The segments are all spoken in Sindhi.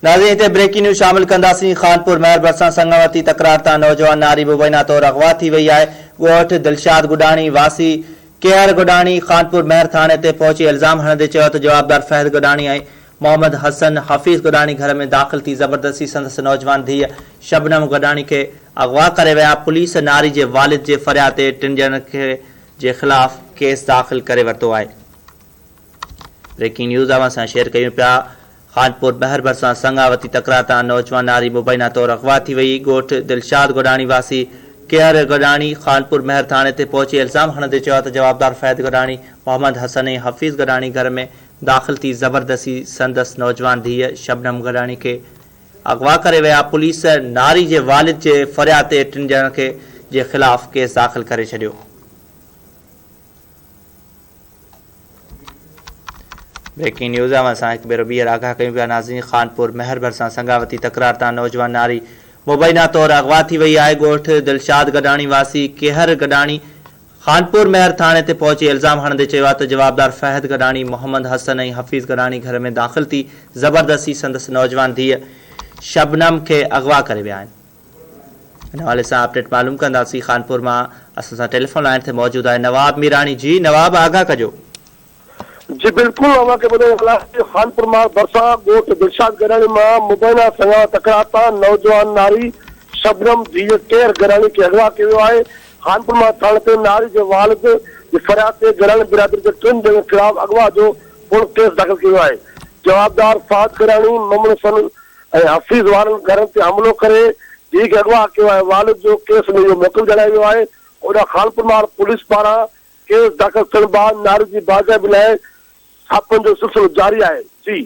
ناظرين هتي بريڪنگ نيوز شامل ڪنداسين خانپور مهر ڀرسان سڱاوتي تڪرار تان نوجوان ناري مبينا طور اغوا ٿي وئي آهي ڳوٺ دلشاد گڏاڻي واسي ڪيهر گڏاڻي خانپور مهر ٿاڻي تي پهچي الزام هڻندي چيو ته جوابدار فهد گڏاڻي ۽ محمد حسن حفيظ گڏاڻي گهر ۾ داخل ٿي زبردستي سندس نوجوان ڌيء شبنم گڏاڻي کي اغوا ڪري ويا پوليس ناري جي والد جي فرياد تي ٽن ڄڻن جي خلاف ڪيس داخل ڪري ورتو آهي. بريڪنگ نيوز اوهان سان شيئر ڪيون پيا خانپور بحر ڀرسان سڱاوتي تڪرار تان نوجوان ناري مبينا طور اغوا ٿي وئي، ڳوٺ دلشاد گڏاڻي واسي ڪيهر گڏاڻي خانپور مهر ٿاڻي تي پهچي الزام هڻندي چيو آهي ته جوابدار فهد گڏاڻي، محمد حسن ۽ حفيظ گڏاڻي گهر ۾ داخل ٿي زبردستي سندس نوجوان ڌيء شبنم گڏاڻي کي اغوا ڪري ويا، پوليس ناري جي والد جي فرياد تي ٽن ڄڻن کي جي خلاف ڪيس داخل ڪري ڇڏيو. بريڪنگ نيوز اوهان سان هڪ ڀيرو ٻيهر آگاهه ڪيون پيا ناظرين خانپور مهر ڀرسان سڱاوتي تڪرار تان نوجوان ناري مبينا طور اغوا ٿي وئي آهي ڳوٺ دلشاد گڏاڻي واسي ڪيهر گڏاڻي خانپور مهر ٿاڻي تي پهچي الزام هڻندي چيو آهي ته جوابدار فهد گڏاڻي محمد حسن ۽ حفيظ گڏاڻي گهر ۾ داخل ٿي زبردستي سندس نوجوان ڌيء شبنم کي اغوا ڪري ويا آهن ان حوالي سان اپڊيٽ معلوم ڪنداسين خانپور مان اسان سان ٽيليفون لائين تي موجود آهي نواب ميراڻي جي نواب آگاهه ڪجو. جي بلڪل اوهان کي ٻڌائي هلان ته خانپور مان ڀرسان ڳوٺ دلشاد گڏاڻي مان مبينا سڃاڻ تڪرار تان نوجوان ناري شبنم ڌيء ڪير گڏاڻي کي اغوا ڪيو ويو آهي خانپور مان ٿاڻي تي ناري جي والد جي فرياد تي گڏاڻي برادري جي ٽن ڄڻن خلاف اغوا جو پڻ ڪيس داخل ڪيو ويو آهي جوابدار فهد گڏاڻي ممڻو سن ۽ حفيظ وارن گهرن تي حملو ڪري ڌيء کي اغوا ڪيو آهي والد جو ڪيس ۾ اهو موقف جڻايو ويو آهي اوڏانهن خانپور ماڙ پوليس پاران ڪيس داخل ٿيڻ بعد ناري جي بازيابي لاء ڇاپن جو سلسلو جاري آهي سي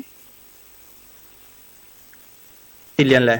ڏيڻ لاء.